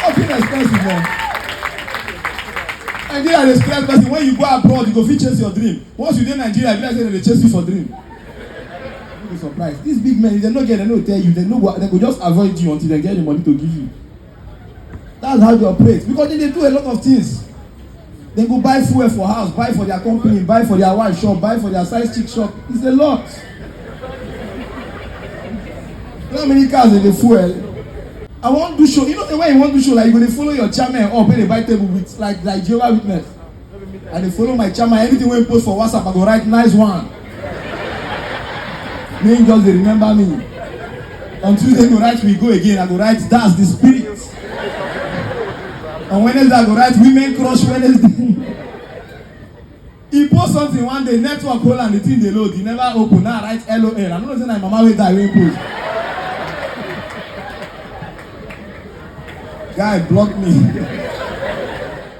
Something expensive, man. Nigeria dey stress person when you go abroad you go fit chase your dream once you dey Nigeria you be like say dem dey chase you for dream no be surprise these big men if dem no get dem no tell you dem no go dem go just avoid you until dem get the money to give you that's how they operate because they dey do a lot of things dem go buy fuel for house buy for their company buy for their wife shop buy for their size chick shop it's a lot you know how many cars dem dey fuel i wan do show you know the way you wan do show like you go dey follow your chairman up wey dey buy table with like like jehovah witness I dey follow my chairman, anything wey he post for WhatsApp, I go write nice one. Make him just dey remember me. On Tuesday, he go write we go again, I go write that's the spirit. On Wednesday, I go write women crush Wednesday. He post something one day, network hold and the thing dey load, he never open, now I write LOL. I no know say na him mama wey die wey post. Guy block me.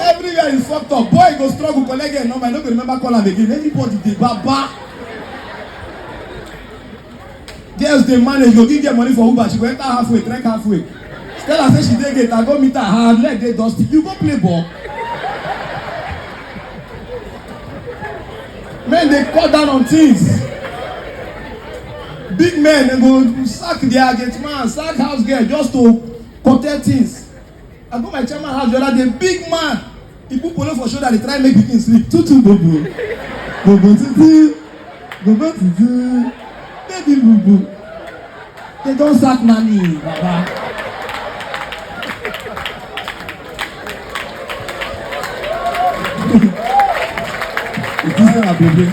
Everywhere you fucked up, boy go struggle collect your number, I no go remember call am again. Anybody dey baba. Girls dey manage, go give them money for Uber, she go enter halfway, trek halfway. Tell her say she dey gate, I go meet her, her leg dey dusty. You go play ball. Men dey cut down on things. Big men dey go sack their gate man, sack house girl just to protect things. I go my chairman house the other day, big man. He put polo for shoulder, they try make pikin sleep. Tutu bobo. Bobo tutu. Bobo tutu. Baby bobo. They don sack nanny, baba. It is not a baby.